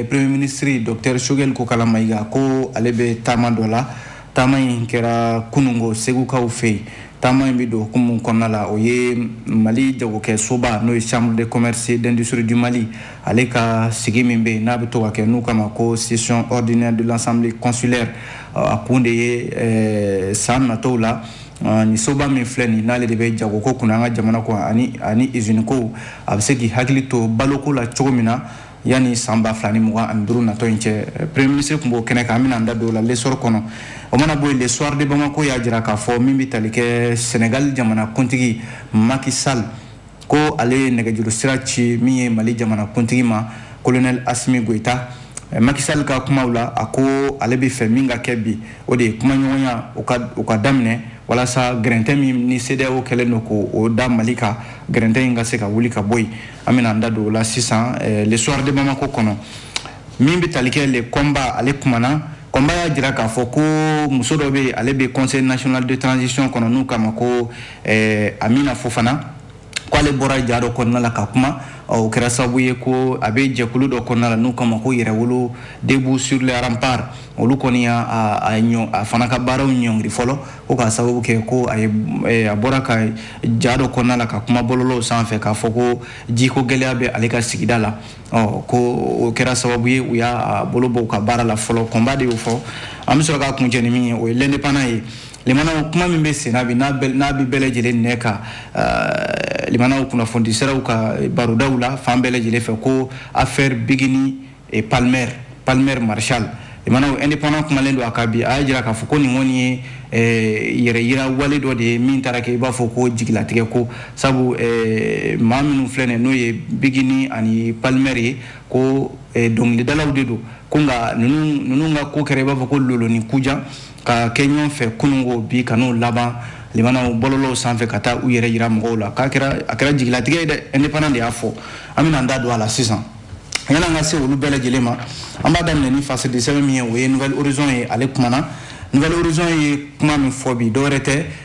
premier ministre docteur choguel kokalla maïga ko ale bɛ taama dɔ la taama in kɛra kunungo segukaw fɛ yen taama in bɛ don hukumu kɔnɔna la o ye mali jagokɛ soba n'o ye chambre de commerce et d'industrie du mali ale ka sigi min bɛ yen n'a bɛ to ka kɛ n'u k'a ma ko session ordinaire de l'assemblée consulaire a kun de ye san natɔw la Ah, nin soba min filɛ nin n'ale de bɛ jagoko kunna an ka jamana kɔ ani ani izini ko a bɛ se k'i hakili to baloko la cogo min na yanni san ba fila ni mugan ani duuru natɔ in cɛ premier ministre tun b'o kɛnɛ kan an bɛna an da don o la l'essor kɔnɔ o mana bɔ yen le soir de bamako y'a jira k'a fɔ min bɛ tali kɛ senegal jamana kuntigi macky sall ko ale ye nɛgɛjuru sira ci min ye mali jamana kuntigi ma colonel assimi goïta eh, macky sall ka kumaw la a ko ale bɛ fɛ min ka kɛ bi o de ye kumaɲɔgɔnyaw ka daminɛ walasa gɛrɛntɛ min ni cedeao kɛlen don k'o da mali kan gɛrɛntɛ in ka se ka wuli ka bɔ yen an bɛna an da don o la sisan eh, le soir de bamako kɔnɔ min bɛ tali kɛ le combat ale kumana combat y'a jira k'a fɔ ko muso dɔ bɛ yen ale bɛ conseil national de transition kɔnɔ n'u k'a ma ko ɛɛ amina fofana k'ale bɔra ja dɔ kɔnɔna la ka kuma o kɛra sababu ye ko a bɛ jɛkulu dɔ kɔnɔna la n'u k'a ma ko yɛrɛwolo debout sur les remparts olu kɔni y'a a ɲɔ a fana ka baaraw ɲɔngiri fɔlɔ ko k'a sababu kɛ ko a ye eh, a bɔra ka ja dɔ kɔnɔna la ka kuma bɔlɔlɔw sanfɛ k'a fɔ ko jiko gɛlɛya bɛ ale ka sigida la ɔ ko o kɛra sababu ye u y'a bolo bɔ u ka baara la fɔlɔ combat de y'o fɔ an bɛ sɔrɔ k'a kuncɛ ni min ye o ye l'indépendant ye limanaw kuma min bɛ senna bi n'a bɛ bɛɛ lajɛlen nɛn kan eh, limanaw kunnafoni siraw ka barodaw la fan bɛɛ lajɛlen fɛ ko affaire biguini et palmer palmer marshal limanaw indépendant kumalen don a kan bi a y'a jira k'a fɔ ko nin kɔni ye eh, yɛrɛ yira wale dɔ de ye min taara kɛ i b'a fɔ ko jigilatigɛ ko sabu eh, maa minnu filɛ nin n'o ye biguini ani palmer ye ko dɔnkilidalaw de don ko nka ninnu ka ko kɛra i b'a fɔ ko loloni kujan ka kɛ ɲɔgɔn fɛ kunungo bi ka n'o laban limanaw bɔlɔlɔw sanfɛ ka taa u yɛrɛ yira mɔgɔw la k'a kɛra a kɛra jigilatigɛ ye dɛ indépendant de y'a fɔ an bɛna an da don a la sisan yan'an ka se olu bɛɛ lajɛlen ma an b'a daminɛ ni fasidi sɛbɛn min ye o ye nouvel horizon ye ale kumana nouvel horizon ye kuma min fɔ bi dɔwɛrɛ tɛ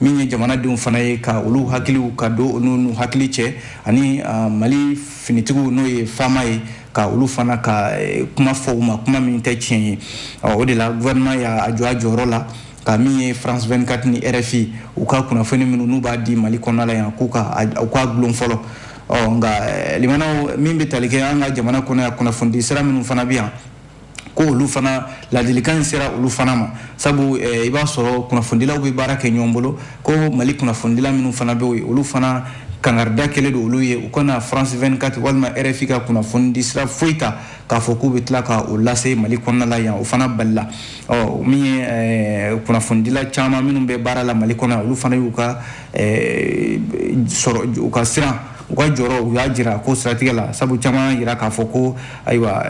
min ye jamanadenw fana ye ka olu hakiliw ka don olu n'u hakili cɛ ani ah, mali finitigiw n'o ye fama ye ka olu fana ka eh, kuma fɔ u ma kuma min tɛ tiɲɛ ye o de la gouvernement y'a jɔ a jɔyɔrɔ la ka min ye france 24 ni rfi u ka kunnafoni minnu n'u b'a di mali kɔnɔna la yan k'u ka u k'a gulon fɔlɔ ɔ nka eh, limanaw min bɛ tali kɛ an ka jamana kɔnɔ yan kunnafonidi sira minnu fana bɛ yan ko olu fana ladilikan in sera olu fana ma sabu eh, i b'a sɔrɔ kunnafonidilaw bɛ baara kɛ ɲɔgɔn bolo ko mali kunnafonidila minnu fana bɛ yen olu fana kangarida kɛlen don olu ye u kana france 24 walima rfi ka kunnafoni di sira foyi ta k'a fɔ k'u bɛ tila ka o lase mali kɔnɔna la yan o fana balila ɔ min ye eh, kunnafonidila caman minnu bɛ baara la mali kɔnɔ olu fana y'u ka u ka siran u ka jɔrɔ u y'a jira ko siratigɛ la sabu caman jira k'a fɔ ko ayiwa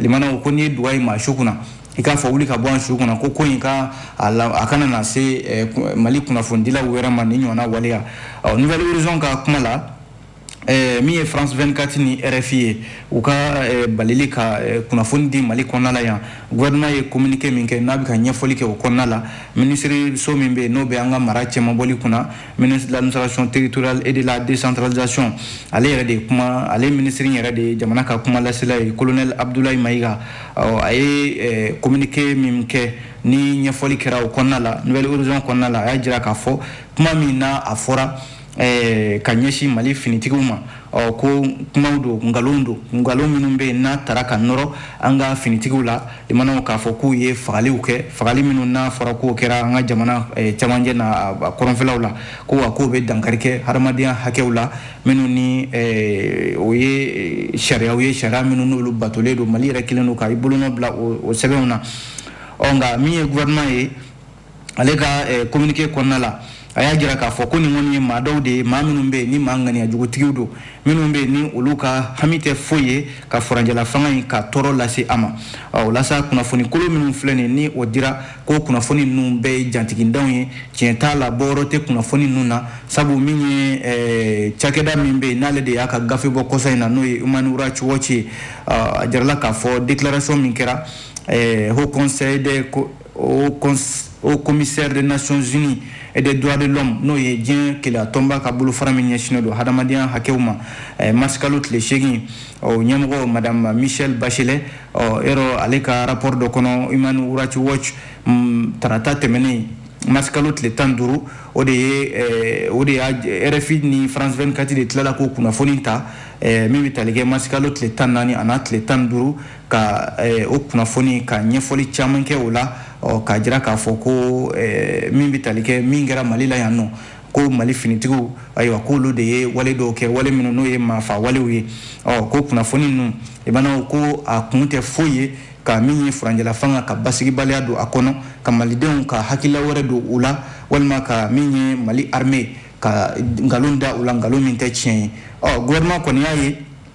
limanaw ko n'i ye duga ye maa su kunna i k'a fɔ wuli ka bɔ an su kunna ko ko in ka a kana na se mali kunnafonidilaw wɛrɛ ma nin ɲɔgɔnna waleya nouvelle horizon ka kuma la Eh, min ye france 24 ni rfi ye u ka eh, balili ka eh, kunnafoni di mali kɔnɔna la yan gouvernement ye communiqué min kɛ n'a bɛ ka ɲɛfɔli kɛ o kɔnɔna la minisiriso min bɛ yen n'o bɛ an ka mara cɛmabɔli kunna ministre de l'administration territoriale et de la décentralisation ale yɛrɛ de ye kuma ale minisiri yɛrɛ de ye jamana ka kuma lasela ye colonel abdoulaye mayiga a ye communiqué min kɛ ni ɲɛfɔli kɛra o kɔnɔna la nouvelle horizon kɔnɔna la a y'a jira k'a fɔ kuma min n'a fɔra Eh, ka ɲɛsin mali finitigiw ma ɔ ko kumaw don nkalon don nkalon minnu bɛ yen n'a tara ka nɔrɔ an ka finitigiw la i manaw k'a fɔ k'u ye fagaliw kɛ fagali minnu n'a fɔra k'o kɛra an ka jamana eh, cɛmancɛ n'a kɔrɔnfɛlaw la ko wa k'o bɛ dankari kɛ hadamadenya hakɛw la minnu ni eh, o ye sariyaw ye sariya minnu n'olu batolen don mali yɛrɛ kɛlen don ka i bolonɔ bila o sɛbɛnw na ɔ nka min ye gouvernement ye ale ka kominike kɔnɔna la a y'a jira k'a fɔ ko nin kɔni ye maa dɔw de ye maa minnu bɛ yen ni maa ŋaniyajugutigiw don minnu bɛ yen ni olu ka hami tɛ foyi ye ka furanjɛlafanga in ka tɔɔrɔ lase a ma o la sa kunnafonikolon minnu filɛ nin ni o dira ko kunnafoni ninnu bɛɛ ye jatigintanw ye tiɲɛ t'a la bɔyɔrɔ tɛ kunnafoni ninnu na sabu min ye cakɛda min bɛ yen n'ale de y'a ka gafe bɔ kɔsa in na n'o ye human rights watch ye a jirala k'a fɔ déclaration min kɛra haut co o haut commissaire des nations unies et des droits de l'homme n'o ye diɲɛ kelenya tɔnba ka bolofara min ɲɛsinnen don hadamadenya hakɛw ma eh, marisikalo tile seegin ɔ ɲɛmɔgɔ madame michelle bachelet ɔ yɔrɔ ale ka rapport dɔ kɔnɔ human rights watch mm, tarata tɛmɛnen marisikalo tile tan duuru o de ye eh, o de y'a rfi ni france 24 de tilala k'o kunnafoni ta eh, min bɛ tali kɛ marisikalo tile tan naani an'a tile tan duuru ka eh, o kunnafoni ka ɲɛfɔli caman kɛ o la k'a jira k'a fɔ ko eh, min bɛ tali kɛ min kɛra mali la yan nɔ ko mali finitigiw ayiwa k'olu de ye wale dɔw kɛ wale minnu n'o ye maafa walew ye ɔ ko kunnafoni ninnu i b'a dɔn ko a kun tɛ foyi ye ka min ye furanjɛlafanga ka basigibaliya don a kɔnɔ ka malidenw ka hakilila wɛrɛ don u la walima ka min ye mali arme ka nkalon da u la nkalon min tɛ tiɲɛ ye ɔ gouvernement kɔni y'a ye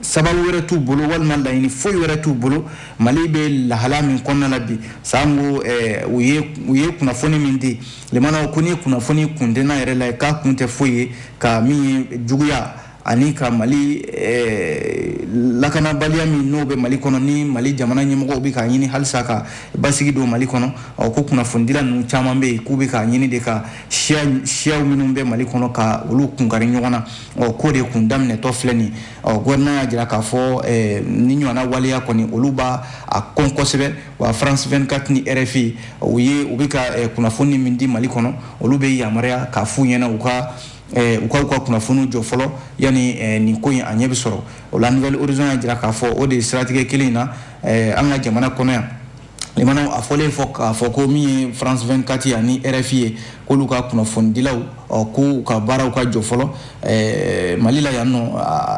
sababu wɛrɛ t'u bolo walima laɲini foyi wɛrɛ t'u bolo mali bɛ lahala min kɔnɔna la bi sanko eh, u ye kunnafoni min di limanaw ko nin kunnafoni kun tɛ n'a yɛrɛ la k'a kun tɛ foyi ye ka min ye juguya ani ka mali eh, lakanabaliya min n'o bɛ mali kɔnɔ ni mali jamana ɲɛmɔgɔw bɛ k'a ɲini halisa ka basigi don mali kɔnɔ ko kunnafonidila ninnu caman bɛ yen k'u bɛ k'a ɲini de ka siyaw minnu bɛ mali kɔnɔ ka olu kunkari ɲɔgɔn na ɔ k'o de kun daminɛtɔ filɛ nin ɔ gouvernement y'a jira k'a fɔ nin ɲɔgɔnna waleya kɔni olu b'a kɔn kosɛbɛ wa france 24 ni rfi u ye u bɛ ka kunnafoni min di mali kɔnɔ olu bɛ yamaruya k'a f'u ɲɛna u ka u ka u ka kunnafoniw jɔ fɔlɔ yanni nin ko in a ɲɛ bɛ sɔrɔ o la nouvelle horizon y'a jira k'a fɔ o de ye siratigɛ kelen in na an ka jamana kɔnɔ yan limanaw a fɔlen fɔ k'a fɔ ko min ye france 24 ye ani rfi ye k'olu ka kunnafonidilaw k'u ka baaraw ka jɔ fɔlɔ mali la yan nɔ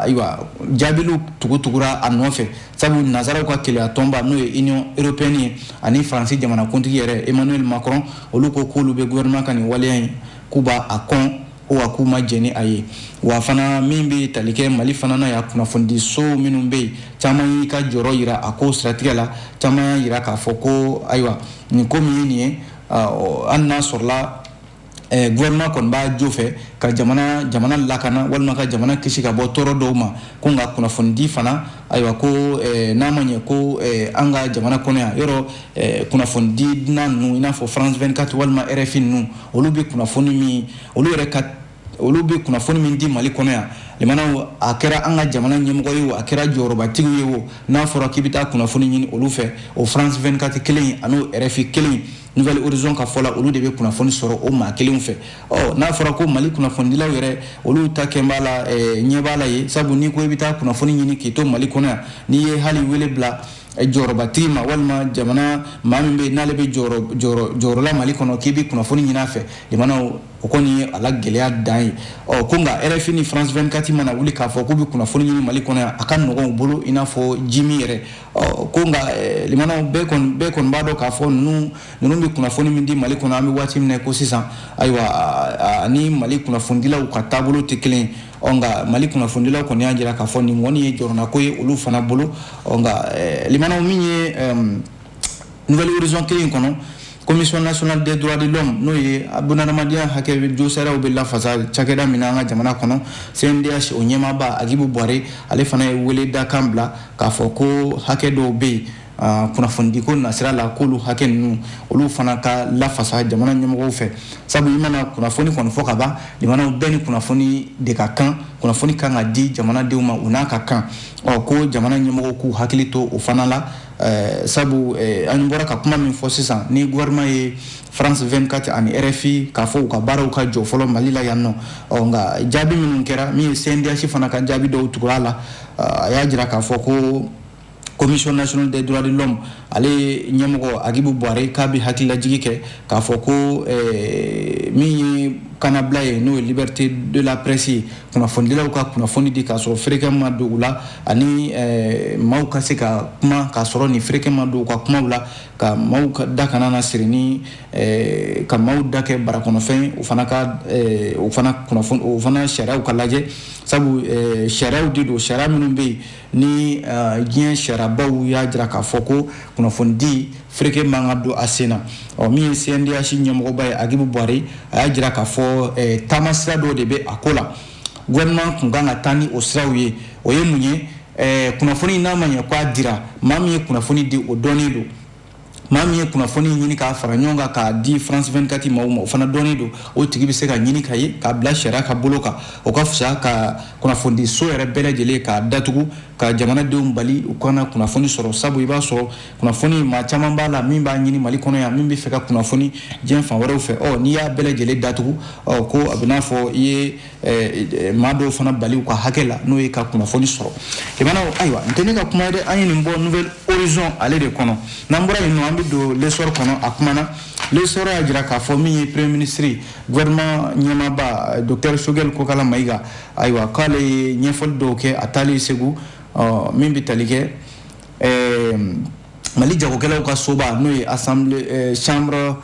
ayiwa jaabiliw tugutugura a nɔfɛ sabu nazaraw ka kelenya tɔnba n'o ye union européenne ye ani faransi jamanakuntigi yɛrɛ emmanuel macron olu ko k'olu bɛ gouvernement ka nin waleya in k'u b'a kɔn ko wa k'u ma jɛn ni a ye wa fana min bɛ tali kɛ mali fana na yan kunnafonidiso minnu bɛ yen caman y'i ka jɔyɔrɔ jira a ko siratigɛ la caman y'a jira k'a fɔ ko ayiwa nin ko min ye nin ye hali n'a sɔrɔla eh, gouvernement kɔni b'a jo fɛ ka jamana jamana lakana walima ka jamana kisi ka bɔ tɔɔrɔ dɔw ma ko nka kunnafonidi fana ayiwa ko eh, n'a ma ɲɛ ko eh, an ka jamana kɔnɔ yan yɔrɔ Eh, kunnafonidi dunan ninnu i n'a fɔ france 24 walima rfi ninnu olu bɛ kunnafoni min olu yɛrɛ ka olu bɛ kunnafoni min di mali kɔnɔ yan limanaw a kɛra an ka jamana ɲɛmɔgɔ ye o a kɛra jɔyɔrɔbatigiw ye o n'a fɔra k'i bɛ taa kunnafoni ɲini olu fɛ o france 24 kelen an'o rfi kelen nouvelle horizon ka fɔ la olu de bɛ kunnafoni sɔrɔ o maa kelenw fɛ ɔ n'a fɔra ko mali kunnafonidilaw yɛrɛ olu ta kɛn b'a la eh, ɲɛ b'a la ye sabu n'i ko i bɛ taa kunnafoni ɲini k'i to mali kɔnɔ yan n'i ye hali wele bila jɔyɔrɔbatigi ma walima jamana maa min bɛ n'ale bɛ jɔyɔrɔ la mali kɔnɔ k'i bɛ kunnafoni ɲini a fɛ limanaw o kɔni ye a la gɛlɛya dan ye ɔ ko nka rfi ni france 24 mana wuli k'a fɔ k'u bɛ kunnafoni ɲini mali kɔnɔ yan a ka nɔgɔn u bolo i n'a fɔ jimin yɛrɛ ɔ ko nka bɛɛ kɔni b'a dɔn k'a fɔ ninnu ninnu bɛ kunnafoni min di mali kɔnɔ an bɛ waati min na ko sisan ayiwa a ni mali kunnafonidilaw ka taabolo tɛ kelen ɔ nka mali kunnafonidilaw kɔni y'a jira k'a fɔ nin kɔni ye jɔrɔnako ye olu fana bolo ɔ nka eh, limanaw min ye nouvel horizon kelen kɔnɔ commission nationale des droits de l'homme n'o ye bunadamadenya hakɛ josariyaw bɛ lafasa cakɛda min na an ka jamana kɔnɔ cndh o ɲɛmaaba agibu buware ale fana ye wele dakan bila k'a fɔ ko hakɛ dɔw bɛ yen Ah, kunnafonidiko nasira la k'olu hakɛ ninnu olu fana ka lafasa jamana ɲɛmɔgɔw fɛ sabu i mana kunnafoni kɔni fɔ ka ban jamanaw bɛɛ ni kunnafoni de ka kan kunnafoni kan ka di jamanadenw ma u n'a ka kan ɔ ko jamana ɲɛmɔgɔw k'u hakili to o fana la eh, sabu eh, an bɔra ka kuma min fɔ sisan ni gouvernement ye france 24 ani rfi k'a fɔ u ka baaraw ka jɔ fɔlɔ mali la yan nɔ ɔ nka jaabi minnu kɛra min ye cndh fana ka jaabi dɔw tugur'a la ah, a y'a jira k'a fɔ ko commission nationale des droits de l'homme ale ɲɛmɔgɔ agibu buware k'a bɛ hakililajigi kɛ k'a fɔ ko eh, min ye kannabila ye n'o ye liberté de la presse ye kunnafonidilaw ka kunnafoni di k'a sɔrɔ fereke ma don u la ani eh, maaw ka se ka kuma k'a sɔrɔ ni fereke ma don u ka kumaw la ka maaw ka da kana na siri ni eh, ka maaw da kɛ barakɔnɔfɛn o fana ka o fana kunnafoni o fana sariyaw ka lajɛ sabu sariyaw de don sariya minnu bɛ yen ni uh, diɲɛ sariyabaw y'a jira k'a fɔ ko kunnafonidi fereke man ka don a sen na ɔ min ye cndh ɲɛmɔgɔba ye agibu buware a y'a jira k'a fɔ eh, taamasira dɔ de bɛ a ko la gouvernement tun kan ka taa ni o siraw ye o ye mun ye eh, kunnafoni n'a ma ɲɛ k'a dira maa min ye kunnafoni di o dɔnnen don maa min ye kunnafoni ɲini k'a fara ɲɔgɔn kan k'a di france 24 maaw ma o fana dɔnnen don o tigi bɛ se ka ɲini ka ye k'a bila sariya ka bolo kan o ka fisa ka kunnafonidiso yɛrɛ bɛɛ lajɛlen k'a datugu ka jamanadenw bali u kana kunnafoni sɔrɔ sabu i b'a sɔrɔ kunnafoni maa caman b'a la min b'a ɲini mali kɔnɔ yan min bɛ fɛ ka kunnafoni diɲɛ fan wɛrɛw fɛ ɔ n'i y'a bɛɛ lajɛlen datugu ɔ ko a b'i n'a fɔ i ye Eh, maa dɔw fana bali u ka hakɛ la n'o ye ka kunnafoni sɔrɔ i mana ayiwa nin tɛ ne ka kuma ye dɛ an ye nin bɔ nouvel horizon ale de kɔnɔ n'an bɔra yen nɔ an bɛ don l'essor kɔnɔ a kuma na l'essor y'a jira k'a fɔ min ye premier ministre gouvernement ɲɛmaaba docteur sogɛl kokala mayiga ayiwa k'ale ye ɲɛfɔli dɔw kɛ a taalen segu min bɛ tali kɛ eh, mali jagokɛlaw ka soba n'o ye assemblée eh, chambre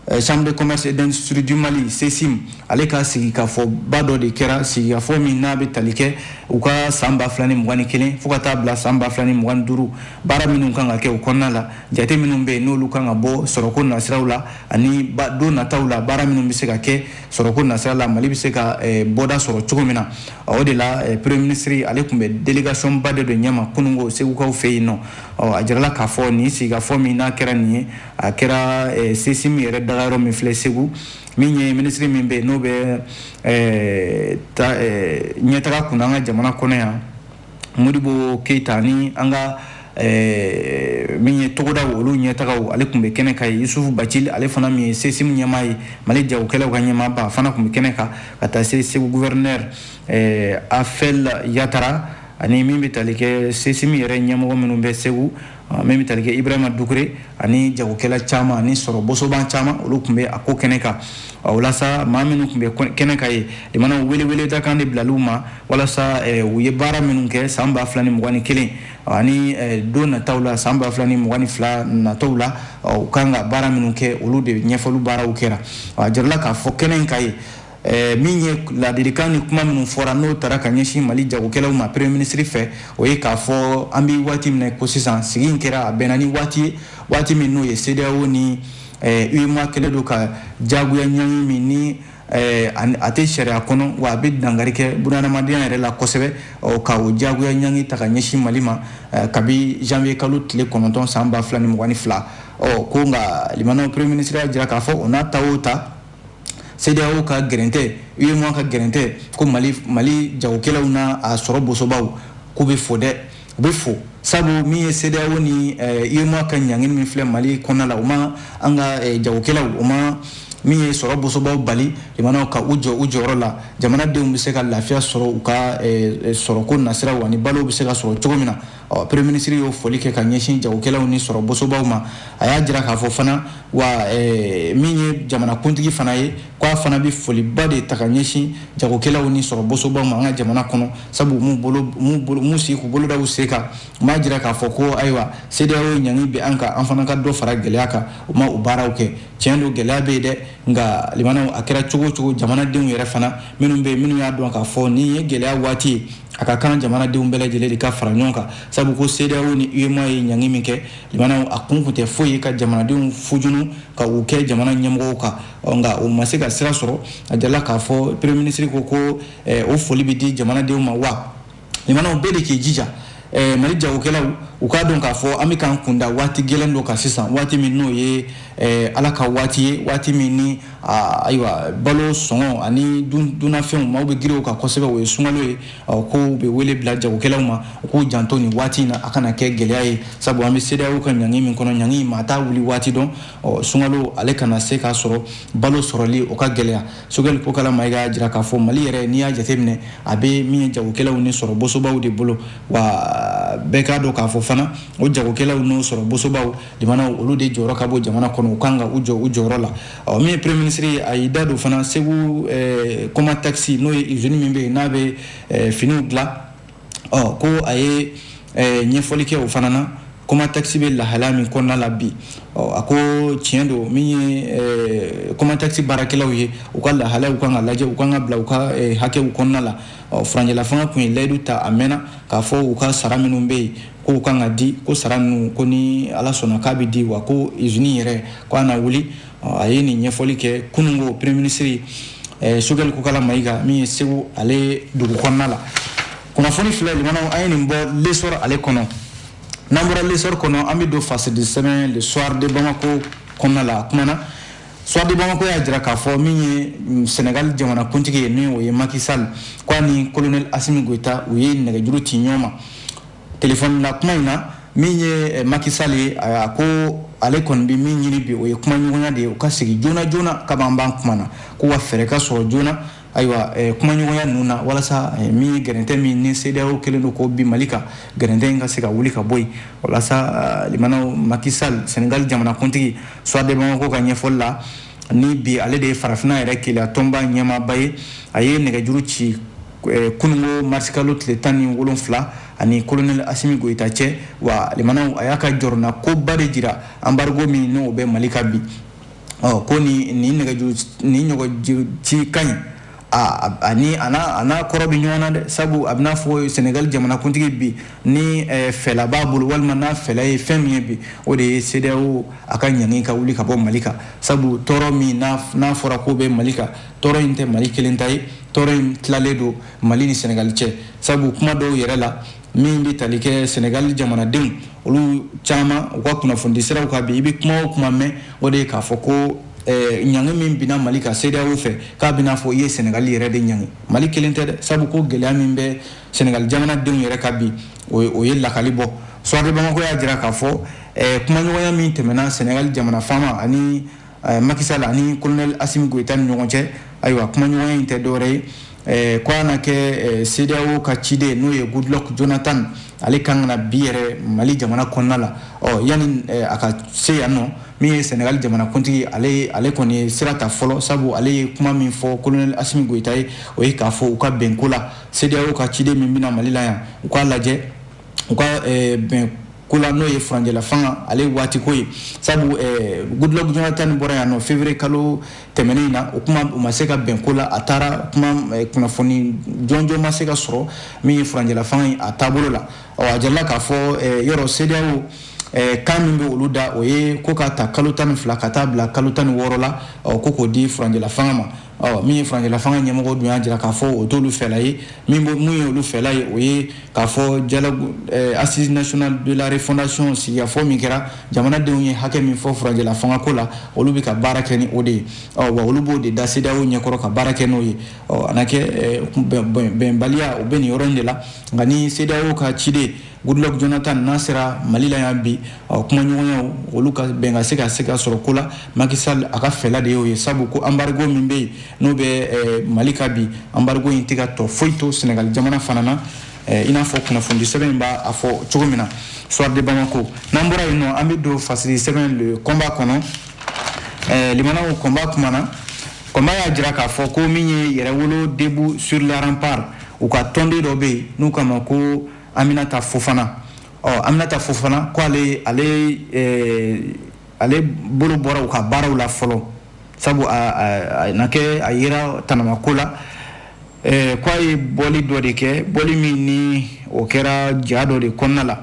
Eh, chambre de commerce et d'industrie du mali ccim ale ka sigikafɔba dɔ de kɛra sigikafɔ min n'a bɛ tali kɛ u ka san ba fila ni mugan ni kelen fo ka taa bila san ba fila ni mugan ni duuru baara minnu kan ka kɛ o kɔnɔna la jate minnu bɛ yen n'olu kan ka bɔ sɔrɔko nasiraw la ani don nataw la baara minnu bɛ se ka kɛ sɔrɔko nasira la mali bɛ se ka eh, bɔda sɔrɔ cogo min na o de la eh, premier ministre ale tun bɛ délégation ba dɔ de ɲɛma kunungo segukaw fɛ yen nɔ a jirala k'a fɔ nin sigikafɔ min n'a kɛra nin ye a kɛra eh, sesim yɛrɛ daga yɔrɔ min filɛ segu min ye minisiri min bɛ n'o bɛ eh, eh, ɲɛtaga kunna an ka jamana kɔnɔ yan modibo keyita ni an ka min ye togodaw olu ɲɛtagaw ale tun bɛ kɛnɛ kan yen yusufu bacili ale fana min ye sesim ɲɛmaa ye mali jagokɛlaw ka ɲɛmaaba a fana tun bɛ kɛnɛ kan ka taa se segu guvɛrinɛri afɛl yatara ani min bɛ tali kɛ sesim yɛrɛ ɲɛmɔgɔ minnu bɛ segu ah, min bɛ tali kɛ ibrahima dukure ani jagokɛla caman ani sɔrɔ bosoba caman olu tun bɛ a ko kɛnɛ kan ah, walasa maa minnu tun bɛ kɛnɛ kan yen limanaw welewele da kan de bilala u ma walasa eh, u ye baara minnu kɛ san ba fila ni mugan ni kelen ah, ani eh, don nataw la san ba fila ni mugan ni fila nataw la u kan ka baara minnu kɛ olu de ɲɛfɔli baaraw kɛra a jirala k'a fɔ kɛnɛ in kan yen Eh, min ye laadilikan ni kuma minnu fɔra n'o tara ka ɲɛsin mali jagokɛlaw ma premier ministre fɛ o ye k'a fɔ an bɛ waati min na ko sisan sigi in kɛra a bɛnna ni waati ye waati min n'o ye CEDEAO ni eh, UEMOA kɛlen don ka jagoya ɲangi min ni eh, a tɛ sariya kɔnɔ wa a bɛ dankari kɛ bunahadamadenya yɛrɛ la kosɛbɛ ka o jagoya ɲangi ta ka ɲɛsin mali ma kabi janvier kalo tile kɔnɔntɔn san ba fila ni mugan ni fila ɔ ko nka limanaw premier ministre y'a jira k'a fɔ o n'a ta o ta CEDEAO ka gɛrɛn tɛ, UEMOA ka gɛrɛn tɛ ko Mali Mali jagokɛlaw n'a a sɔrɔ bosobaw k'u bɛ fo dɛ, u bɛ fo sabu min ye CEDEAO ni UEMOA eh, ka ɲangini min filɛ Mali kɔnɔna la, u ma an ka eh, jagokɛlaw u ma min ye sɔrɔ bosobaw bali limanaw ka u jɔ u jɔyɔrɔ la jamanadenw bɛ se ka lafiya sɔrɔ u ka eh, sɔrɔko nasiraw ani balow bɛ se ka sɔrɔ cogo min na. ɔ premier minisiri y'o foli kɛ ka ɲɛsin jagokɛlaw ni sɔrɔ bosobaw ma a y'a jira k'a fɔ fana wa eh, min ye jamanakuntigi fana ye ko a fana bɛ foliba de ta ka ɲɛsin jagokɛlaw ni sɔrɔ bosobaw ma an ka jamana kɔnɔ sabu m'u bolo m'u bolo m'u sigi k'u bolo da u sen kan u m'a jira k'a fɔ ko ayiwa CEDEAO ɲangi bɛ an kan an fana ka dɔ fara gɛlɛya kan u ma o baaraw kɛ tiɲɛ don gɛlɛya bɛ yen dɛ nka limanaw a kɛra cogo o cogo jamanadenw yɛrɛ fana minnu bɛ yen minnu y'a dɔn k'a fɔ nin ye gɛlɛya waati ye a ka kan jamanadenw bɛɛ lajɛlen de ka fara ɲɔgɔn kan sabu ko CEDEAO ni UEMOA ye ɲangi min kɛ limanaw a kun kun tɛ foyi ye ka jamanadenw fujunu ka u kɛ jamana ɲɛmɔgɔw kan nka o ma se ka sira sɔrɔ a jirala k'a fɔ premier ministre ko ko eh, o foli bɛ di jamanadenw ma wa limanaw bɛɛ de k'i jija eh, mali jagokɛlaw u k'a dɔn k'a fɔ an bɛ k'an kunda waati gɛlɛn dɔ kan sisan waati min n'o ye Eh, ala ka waati ye waati min ni ayiwa balo sɔngɔ ani dunafɛnw maaw bɛ girin u kan kosɛbɛ o ye sungalo ye ko bɛ wele bila jagokɛlaw ma u k'u janto ni waati in na a kana kɛ gɛlɛya ye sabu an bɛ CEDEAO ka ɲangi min kɔnɔ ɲangi maa t'a wuli waati dɔn sungalo ale kana se k'a sɔrɔ balo sɔrɔli o ka gɛlɛya sogɛli kokala mayiga y'a jira k'a fɔ mali yɛrɛ n'i y'a jateminɛ a bɛ min ye jagokɛlaw ni sɔrɔ bosobaw de bolo wa bɛɛ k'a dɔn k'a fɔ fana o jagokɛlaw n'o sɔrɔ bosobaw jamanaw olu de jɔyɔrɔ ka bon jamana kɔnɔ u kan ka u jɔ u jɔyɔrɔ la ɔ min ye premier ministre ye a y'i da don fana segu eh, comatex n'o ye usine min bɛ yen n'a bɛ eh, finiw dilan ɔ ko a ye eh, ɲɛfɔli kɛ o fana na comatex bɛ lahalaya min kɔnɔna la bi ɔ a ko tiɲɛ don min ye eh, comatex baarakɛlaw ye u ka lahalayaw kan ka lajɛ u kan ka bila u ka eh, hakɛw kɔnɔna la ɔ furancɛlafanga tun ye layidu ta a mɛnna k'a fɔ u ka sara minnu bɛ yen ko u kan ka di ko sara ninnu ko ni ala sɔnna k'a bɛ di wa ko izini yɛrɛ ko a na wuli a ye nin ɲɛfɔli kɛ kununko premier minisiri eh, sogɛli kokala mayiga min ye segu ale dugu kɔnɔna la kunnafoni filɛ lamɛnnaw an ye nin bɔ lesɔrɔ ale kɔnɔ n'an bɔra lesɔrɔ kɔnɔ an bɛ don fasidisɛbɛn le soir de bamako kɔnɔna la a kumana Soir de Bamako y'a jira k'a fɔ min ye mm, Senegal jamanakuntigi ye min o ye Macky Sall k'a ni colonel Assimi Goïta u ye nɛgɛjuru ci ɲɔgɔn ma telefɔni la kuma in na min ye eh, Macky Sall ye a ko ale kɔni bɛ min ɲini bi o ye kumaɲɔgɔnya de ye u ka sigi joona joona ka ban ban kuma na ko wa fɛɛrɛ ka sɔrɔ joona ayiwa eh, kumaɲɔgɔnya ninnu na walasa eh, min ye gɛrɛntɛ min ni sedeyawo kɛlen don k'o bin mali kan gɛrɛntɛ in ka se ka wuli ka bɔ yen walasa eh, lamɛnnaw maki sal senegal jamanakuntigi soir de bamako ka ɲɛfɔli la ni bi ale de ye farafina yɛrɛ kelenya tɔnba ɲɛmaaba ye a ye nɛgɛjuru ci kunungo marisikalo tile tan ni wolonfila a ni kolonɛli asimi goyita cɛ wa lamɛnnaw a y'a ka jɔrɔnakoba de jira anbarigo min n'o bɛ mali kan bi ɔ ko ni ni nɛgɛjuru nin ɲɔgɔn ci ka ɲi ani a n'a kɔrɔ bɛ ɲɔgɔn na dɛ sabu a bɛ n'a fɔ sɛnɛgali jamanakuntigi bi ni fɛla b'a bolo walima n'a fɛla ye fɛn min ye bi o de ye sedeyawo a ka ɲangi ka wuli ka bɔ mali kan sabu tɔɔrɔ min n'a fɔra ko bɛ mali kan tɔɔrɔ in tɛ mali kelen ta ye tɔɔrɔ in tilalen don mali ni sɛnɛgali cɛ sabu kuma dɔw yɛrɛ la min bɛ tali kɛ sɛnɛgali jamanadenw olu caman u ka kunnafonidi siraw kan bi i bɛ kuma o kuma mɛn o de ye k'a fɔ ko eh, ɲangi min binna mali kan sedeyawo fɛ k'a bɛ n'a fɔ i ye sɛnɛgali yɛrɛ de ɲangi mali kelen tɛ dɛ sabu ko gɛlɛya min bɛ sɛnɛgali jamanadenw yɛrɛ kan bi o ye lakali bɔ soir de bamako y'a jira k'a fɔ eh, kumaɲɔgɔnya min tɛmɛna sɛnɛgali jamana faama ani eh, maki sal ani kolonɛli asimi goyita ni ɲɔgɔn cɛ ayiwa kumaɲɔgɔnya in tɛ dɔwɛrɛ ye eh, ko a na kɛ eh, cedeao ka ciden n'o ye goodluck jonathan ale kan ka na bi yɛrɛ mali jamana kɔnɔna la ɔ yanni a ka se yannɔ min ye senegali jamanakuntigi ale ale kɔni ye sira ta fɔlɔ sabu ale ye kuma min fɔ kolonɛli asimi goyita ye o ye k'a fɔ u ka bɛn ko la cedeao ka ciden min bɛ na mali la yan u k'a lajɛ u ka eh, bɛn ko la n'o ye furancɛla fanga ale waati ko ye sabu eh, Goodluck Jonathan bɔra yan nɔ février kalo tɛmɛnen in na o kuma u ma se ka bɛn ko la a taara kuma eh, kunnafoni jɔnjɔn ma se ka sɔrɔ min ye furancɛla fanga ye a taabolo la ɔ a jirala k'a fɔ eh, yɔrɔ CEDEAO Eh, kan min bɛ olu da o ye ko ka ta kalo tan ni fila ka taa bila kalo tan ni wɔɔrɔ la ko k'o di furancɛla fanga ma ɔ min ye furancɛla fanga ɲɛmɔgɔ dun y'a jira k'a fɔ o t'olu fɛla ye min bɛ mun ye olu fɛla ye o ye k'a fɔ dialogue eh, assises nationales de la refondation sigikafɔ min kɛra jamanadenw ye hakɛ min fɔ furancɛla fangako la olu bɛ ka baara kɛ ni o de ye ɔ wa olu b'o de da CEDEAO ɲɛkɔrɔ ka baara kɛ n'o ye ɔ a na kɛ eh, bɛnbaliya o bɛ nin yɔrɔ in de la nka ni CEDEAO ka ciden Goodluck Jonathan n'a sera Mali la yan bi ɔ kumaɲɔgɔnyaw olu ka bɛn ka se ka se ka sɔrɔ ko la Macky Sall a ka fɛla de y'o ye sabu ko embargo min bɛ yen n'o bɛ eh, Mali kan bi embargo in tɛ ka tɔ foyi to Senegal jamana fana na eh, i n'a fɔ kunnafonidi sɛbɛn in b'a fɔ cogo min na Soir de Bamako n'an bɔra yen nɔ an bɛ don fasiri sɛbɛn le combat kɔnɔ eh, lamɛnnaw combat kuma na combat y'a jira k'a fɔ ko min ye yɛrɛwolo debout sur les remparts u ka tɔnden dɔ bɛ yen n'u k'a ma ko Aminata Fofana, ɔ Aminata Fofana ko ale ale ɛɛ ale bolo bɔra u ka baaraw la fɔlɔ sabu a a a na kɛ a yera tanama ko la ɛɛ ko a ye bɔli dɔ de kɛ bɔli min ni o kɛra ja dɔ de kɔnɔna la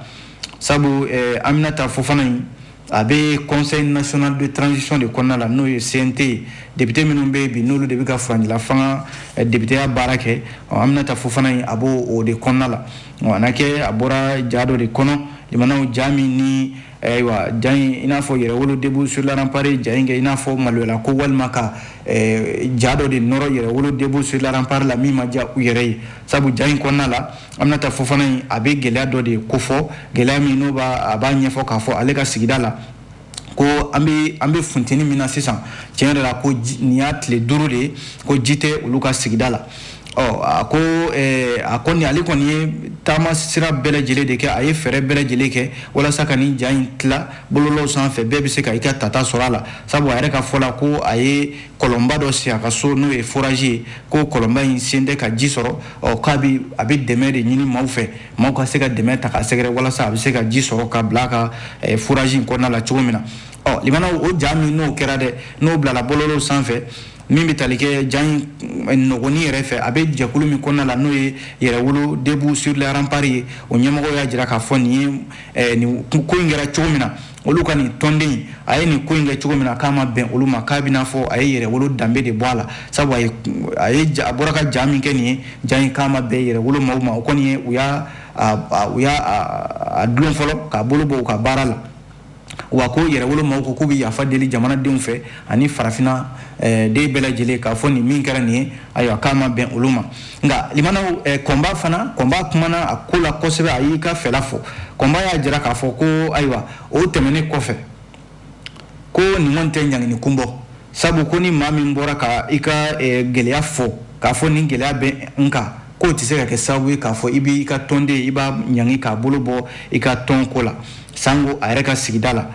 sabu ɛɛ Aminata Fofana in A bɛ conseil national de transition de kɔnɔna la n'o ye CNT ye député minnu bɛ yen bi n'olu de bɛ ka furancɛlafanga députéya baara kɛ Aminata Fofana in a b'o o de kɔnɔna la a na kɛ a bɔra ja dɔ de kɔnɔ lamɛnnaw ja min ni ayiwa ja in i n'a fɔ yɛrɛwolo debout sur les remparts ye ja in kɛ i n'a fɔ maloyala ko walima ka ja dɔ de nɔrɔ yɛrɛwolo debout sur les remparts la min ma diya u yɛrɛ ye sabu ja in kɔnɔna la Aminata Fofana in a bɛ gɛlɛya dɔ de kofɔ gɛlɛya min n'o b'a a b'a ɲɛfɔ k'a fɔ ale ka sigida la ko an bɛ an bɛ funteni min na sisan tiɲɛ yɛrɛ la ko nin y'a tile duuru de ye ko ji tɛ olu ka sigida la ɔ a ko a ko nin ale kɔni ye taama sira bɛɛ lajɛlen de kɛ a ye fɛɛrɛ bɛɛ lajɛlen kɛ walasa ka nin ja in tila bɔlɔlɔw sanfɛ bɛɛ bɛ se ka i ka tata sɔrɔ a la sabu a yɛrɛ ka fɔ la ko a ye kɔlɔnba dɔ sen a ka so n'o ye foraji ye ko kɔlɔnba in sen tɛ ka ji sɔrɔ ɔ k'a bi a bɛ dɛmɛ de ɲini maaw fɛ maaw ka se ka dɛmɛ ta k'a sɛgɛrɛ walasa a bɛ se ka ji sɔrɔ ka bila a ka eh, foraji in kɔnɔna la cogo min na ɔ lamɛnnaw o ja min n'o kɛra dɛ n'o bilala bɔlɔlɔw sanfɛ min bɛ tali kɛ ja in eh, nɔgɔni yɛrɛ fɛ a bɛ jɛkulu min kɔnɔna la n'o ye yɛrɛwolo debout sur les remparts ye o ɲɛmɔgɔ y'a jira k'a fɔ nin ye eh, nin ko in kɛra cogo min na olu ka nin tɔnden a ye nin ko in kɛ cogo min na k'a ma bɛn olu ma k'a bɛ n'a fɔ a ye yɛrɛwolo danbe de bɔ a la sabu a ye a ye a bɔra ka ja min kɛ nin ye ja in k'a ma bɛn yɛrɛwolo maaw ma o kɔni ye u y'a u y'a dulon fɔlɔ k'a bolo bɔ u ka baara la wa ko yɛrɛwolo maaw ko k'u bɛ yafa deli jamanadenw fɛ ani farafinna den bɛɛ lajɛlen k'a fɔ nin min kɛra nin ye ayiwa k'a ma bɛn olu ma nka limanaw eh, Combat fana Combat kumana a ko la kosɛbɛ a y'i ka fɛla fɔ Combat y'a jira k'a fɔ ko ayiwa o tɛmɛnen kɔfɛ ko nin kɔni tɛ ɲangini kun bɔ sabu ko ni maa min bɔra ka i ka eh, gɛlɛya fɔ k'a fɔ nin gɛlɛya bɛ n kan k'o tɛ se ka kɛ sababu ye k'a fɔ i b'i ka tɔnden i b'a ɲangi k'a bolo bɔ i ka tɔn ko la sango a yɛrɛ ka sigida la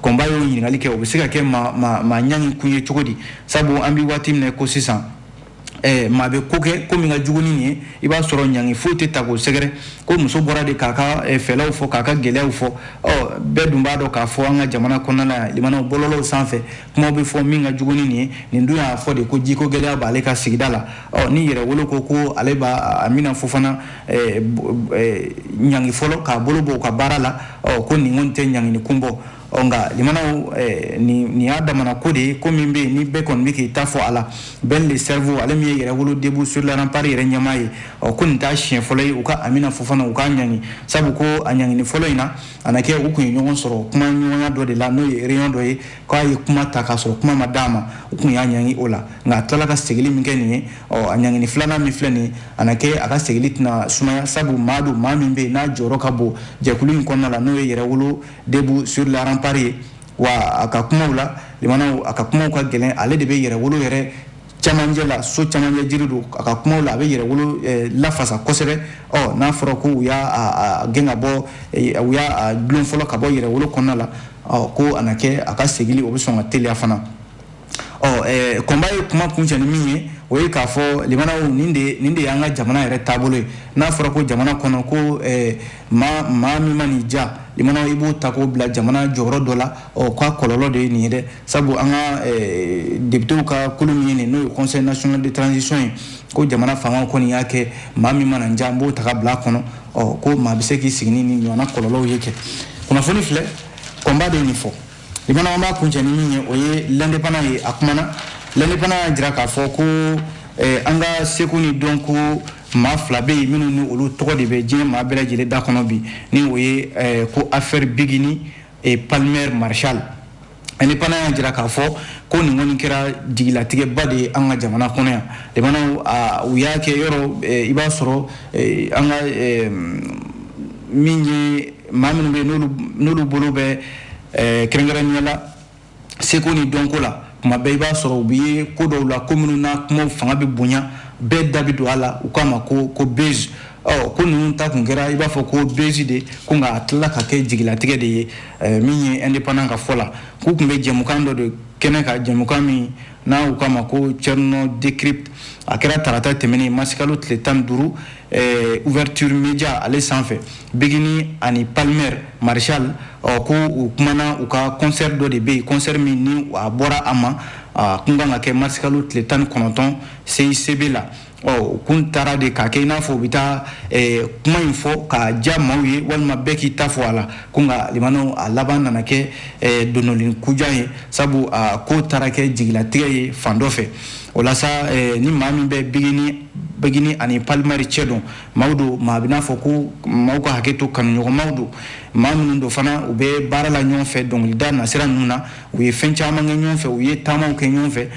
Combat y'o ɲininkali kɛ o bɛ se ka kɛ maa ɲangi kun ye cogo di sabu an bɛ waati min na ko sisan eh, maa bɛ ko kɛ ko min ka jugu ni nin ye i b'a sɔrɔ ɲangi foyi tɛ taa k'o sɛgɛrɛ ko muso bɔra de k'a ka eh, fɛlaw fɔ k'a ka gɛlɛyaw fɔ ɔ bɛɛ dun b'a dɔn k'a fɔ an ka jamana kɔnɔna la yan limanaw bɔlɔlɔw sanfɛ kumaw bɛ fɔ min ka jugu ni nin ye nin dun y'a fɔ de ko jiko gɛlɛya b'ale ka sigida la ɔ ni yɛrɛwolo ko ko ale bɛ amina fofana eh, eh, ɲangi fɔlɔ k'a bolo bɔ u ka baara la ɔ ko nin kɔni tɛ ɲangini kun bɔ ɔ nka limanaw eh, nin y'a damana ko de ye ko min bɛ yen ni bɛɛ kɔni bɛ k'i ta fɔ a la ben le cerveau ale min ye yɛrɛwolo debout sur la rempart yɛrɛ ɲɛmaa ye ɔ ko nin t'a siɲɛ fɔlɔ ye u ka amina fofana u k'a ɲangi sabu ko a ɲangini fɔlɔ in na a na kɛ u tun ye ɲɔgɔn sɔrɔ kuma ɲɔgɔnya dɔ de la n'o ye réunion dɔ ye k'a ye kuma ta k'a sɔrɔ kuma ma d'a ma u tun y'a ɲangi o la nka a tilala ka segili min kɛ nin ye ɔ a ɲangini filanan min filɛ nin ye a na kɛ a ka segili tɛna sumaya sabu maa don maa min bɛ yen n'a jɔyɔrɔ ka bon jɛkulu in kɔnɔna la n'o ye yɛrɛwolo Debout sur la rempart ye wa a ka kumaw la limanaw a ka kumaw ka gɛlɛn ale de bɛ yɛrɛwolo yɛrɛ camancɛ la so camancɛ jiri don a ka kumaw la a bɛ yɛrɛwolo eh, lafasa kosɛbɛ ɔ n'a fɔra ko u y'a gɛn ka bɔ eh, u y'a dulon fɔlɔ ka bɔ yɛrɛwolo kɔnɔna la ɔ ko a na kɛ a ka segili o bɛ sɔn ka teliya fana ɔ Combat ye kuma kuncɛ ni min ye o ye k'a fɔ limanaw nin de y'an ka jamana yɛrɛ taabolo ye n'a fɔra ko jamana kɔnɔ ko maa maa min mana i ja i b'o ta k'o bila jamana jɔyɔrɔ dɔ la ɔ k'a kɔlɔlɔ de ye nin ye dɛ sabu an ka depitew ka kulu min ye nin n'o ye conseil national de transition ye ko jamana fanga kɔni y'a kɛ maa min mana an ja an b'o ta ka bila a kɔnɔ ɔ ko maa bɛ se k'i sigi ni nin ɲɔgɔn kɔlɔlɔw ye kɛ kunnafoni filɛ Combat de ye nin fɔ limanaw an b'a kuncɛ ni min ye o ye l'indépendant ye a kumana l'indépendant y'a jira k'a fɔ ko eh, an ka seko ni dɔnko maa fila bɛ yen minnu ni olu tɔgɔ de bɛ diɲɛ maa bɛɛ lajɛlen da kɔnɔ bi ni o ye eh, ko affaire biguini et palmer marshal l'indépendant y'a jira k'a fɔ ko nin kɔni kɛra jigilatigɛba de ye an ka jamana kɔnɔ yan limanaw u y'a kɛ yɔrɔ eh, i b'a sɔrɔ eh, an ka eh, min ye maa minnu bɛ n'olu bolo bɛ ɛɛ kɛrɛnkɛrɛnnenya la seko ni dɔnko la kuma bɛɛ i b'a sɔrɔ u bɛ ko dɔw la ko minnu na kumaw fanga bɛ bonya bɛɛ da bɛ don a la u k'a ma ko ko buzz ɔ ko ninnu ta kun kɛra i b'a fɔ ko buzz de ko nka a tilala ka kɛ jigilatigɛ de ye ɛɛ min ye indépendant ka fɔ la k'u kun bɛ jɛmukan dɔ de kɛnɛ kan jɛmukan min n'a u k'a ma ko Thierno Décrypte a kɛra tarata tɛmɛnen masikalo tile tan ni duuru Eh, ouverture média ale senfɛ bigini ani palmer marshal ɔ ko u kumana u ka concert dɔ de bɛ yen concert min ni a bɔra a ma a kun kan ka kɛ marsikalo tile tan ni kɔnɔntɔn CICB la ɔ u kun taara de k'a kɛ i n'a fɔ u bɛ taa eh, kuma in fɔ ka diya maaw ye walima bɛɛ k'i ta fɔ a la ko nka limanaw a laban nana kɛ eh, dononnin kujan ye sabu a ko taara kɛ jigilatigɛ ye fan dɔ fɛ o la sa eh, ni maa min bɛ bigini ani palmer cɛ dɔn maaw don maa bɛ n'a fɔ ko maaw ka hakɛ to kanuɲɔgɔnmaw don maa minnu don fana u bɛ baara la ɲɔgɔn fɛ dɔnkilida nasira ninnu na u ye fɛn caman kɛ ɲɔgɔn fɛ u ye taamaw kɛ ɲɔgɔn fɛ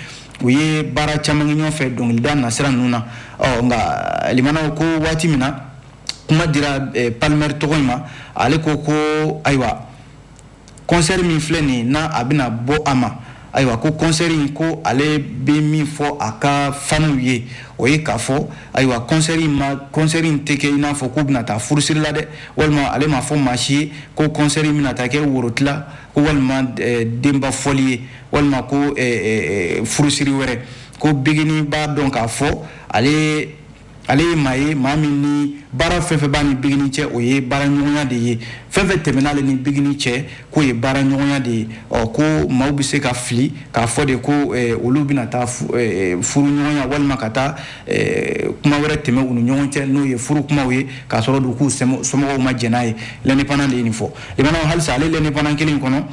u ye baara caman kɛ ɲɔgɔn fɛ dɔnkilida nasira ninnu na ɔ nka limanaw ko waati min na kuma dira eh, palmer tɔgɔ in ma ale ko ko ayiwa Kɔnsɛri min filɛ nin ye n'a a bɛna bɔ a ma ayiwa ko kɔnsɛri in ko ale bɛ min fɔ a ka faniw ye o ye k'a fɔ ayiwa kɔnsɛri in ma kɔnsɛri in tɛ kɛ i n'a fɔ k'u bɛna taa furusiri la dɛ walima ale m'a fɔ maa si ye ko kɔnsɛri in bɛna taa kɛ worotila ko walima denba fɔli ye walima ko furusiri wɛrɛ ko bigini b'a dɔn k'a fɔ ale ale ye maa ye maa min ni baara fɛn fɛn b'a ni bigini cɛ o ye baaraɲɔgɔnya de ye fɛn fɛn tɛmɛn'ale ni bigini cɛ k'o ye baaraɲɔgɔnya de ye ɔ ko maaw bɛ se ka fili k'a fɔ de ko olu bɛna taa furuɲɔgɔnya walima ka taa kuma wɛrɛ tɛmɛ u ni ɲɔgɔn cɛ n'o ye furu kumaw ye k'a sɔrɔ dun k'u somɔgɔw ma jɛn n'a ye l'indépendant de ye nin fɔ limanaw halisa ale l'indépendant kelen kɔnɔ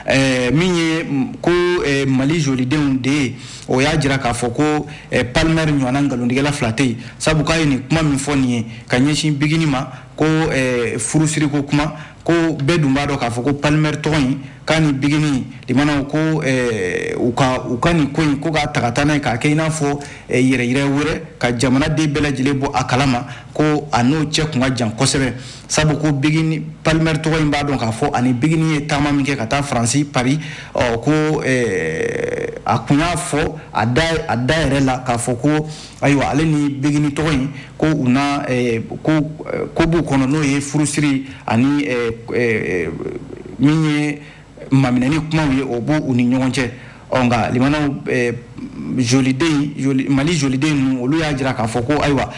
Eh, min ye ko eh, mali jolidenw de ye o y'a jira k'a fɔ ko eh, palmer ɲɔgɔnna nkalontigɛla fila tɛ yen sabu k'a ye nin kuma min fɔ nin ye ka ɲɛsin bigini ma ko furusiriko kuma ko bɛɛ dun b'a dɔn k'a fɔ ko palmer tɔgɔ in k'a ni bigini limanaw ko u ka u ka nin ko in ko k'a ta ka taa n'a ye k'a kɛ i n'a fɔ yɛrɛyira wɛrɛ ka jamanaden bɛɛ lajɛlen bɔ a kalama ko a n'o cɛ kun ka jan kosɛbɛ sabu ko bigini palmer tɔgɔ in b'a dɔn k'a fɔ a ni bigini ye taama min kɛ ka taa faransi pari ɔ ko eh, a kun y'a fɔ a da a da yɛrɛ la k'a fɔ ko ayiwa ale ni bigini tɔgɔ in ko u na eh, ko eh, ko b'u kɔnɔ n'o ye furusiri ani min ye maminɛni kumaw ye o b'o u ni ɲɔgɔn cɛ ɔ nka limanaw eh, joliden joli, mali joliden ninnu olu y'a jira k'a fɔ ko ayiwa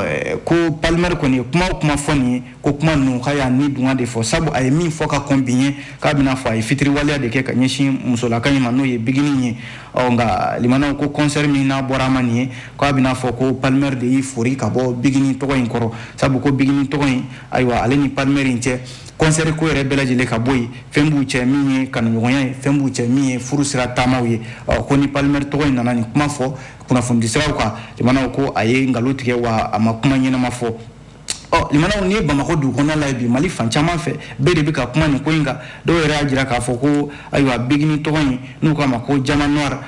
eh, ko palmer kɔni ye kuma o kuma fɔ nin ye ko kuma ninnu k'a y'a nidungɔ de fɔ sabu a ye min fɔ ka kɔn bi ɲɛ k'a b'i n'a fɔ a ye fitiriwaleya de kɛ ka ɲɛsin musolaka in ma n'o ye bigini ye ɔ nka limanaw ko kɔnsɛri min n'a bɔra a ma nin ye k'a b'i n'a fɔ ko palmer de y'i fori ka bɔ bigini tɔgɔ in kɔrɔ sabu ko bigini tɔgɔ in ayiwa ale ni palmer in cɛ kɔnsɛri ko yɛrɛ bɛɛ lajɛlen ka bɔ yen fɛn b'u cɛ min ye kanuɲɔgɔnya ye fɛn b'u cɛ min ye furu sira taamaw ye ko ni palmer tɔgɔ in nana nin kuma fɔ kunnafonidisiraw kan limanaw ko a ye nkalon tigɛ wa a ma kuma ɲɛnama fɔ ɔ limanaw n'i ye bamakɔ dugu kɔnɔna lajɛ bi mali fan caman fɛ bɛɛ de bɛ ka kuma nin ko in kan dɔw yɛrɛ y'a jira k'a fɔ ko ayiwa bigini tɔgɔ in n'u k'a ma ko diamant noir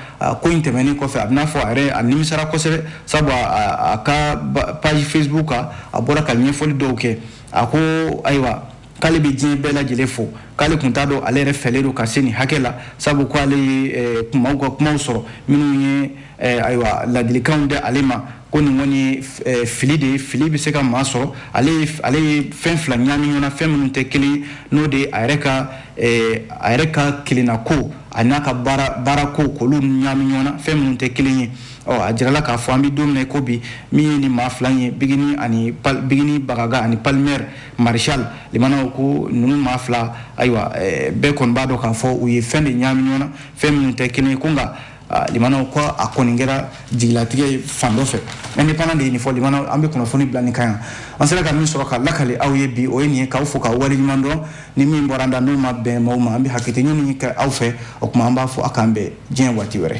ko in tɛmɛnen kɔfɛ a b'i n'a fɔ a yɛrɛ a nimisara kosɛbɛ sabu a ka page facebook kan a bɔra ka ɲɛfɔli dɔw kɛ a ko ayiwa k'ale bɛ diɲɛ bɛɛ lajɛlen fo k'ale kun t'a dɔn ale yɛrɛ fɛlen don ka se nin hakɛ la sabu ko ale ye kumaw ka kumaw sɔrɔ minnu ye ayiwa ladilikanw di ale ma ko nin kɔni fili de ye fili bɛ se ka maa sɔrɔ ale ye fɛn fila ɲaami ɲɔgɔn na fɛn minnu tɛ kelen ye n'o de a yɛrɛ ka a yɛrɛ ka kelenna ko ani a ka baara ko k'olu ɲaami ɲɔgɔn na fɛn minnu tɛ kelen ye ɔ a jirala k'a fɔ an bɛ don min na ko bi min ye nin maa fila ye bigini ani bigini bagaga ani palmer marshal limanaw ko ninnu maa fila ayiwa eh, bɛɛ kɔni b'a dɔn k'a fɔ u ye fɛn de ɲaami ɲɔgɔn na fɛn minnu tɛ kelen ye ko nka ah, limanaw ko a kɔni kɛra jigilatigɛ ye fan dɔ fɛ indépendant de ye nin fɔ limanaw an bɛ kunnafoni bila nin kan yan an sera ka min sɔrɔ ka lakali aw ye bi o ye nin ye k'aw fo k'aw waleɲuman dɔn ni min bɔra an da n'o ma bɛn maaw ma an bɛ hakɛto ɲini kɛ aw fɛ o tuma an b'a fɔ a k'an bɛn diɲɛ waati wɛrɛ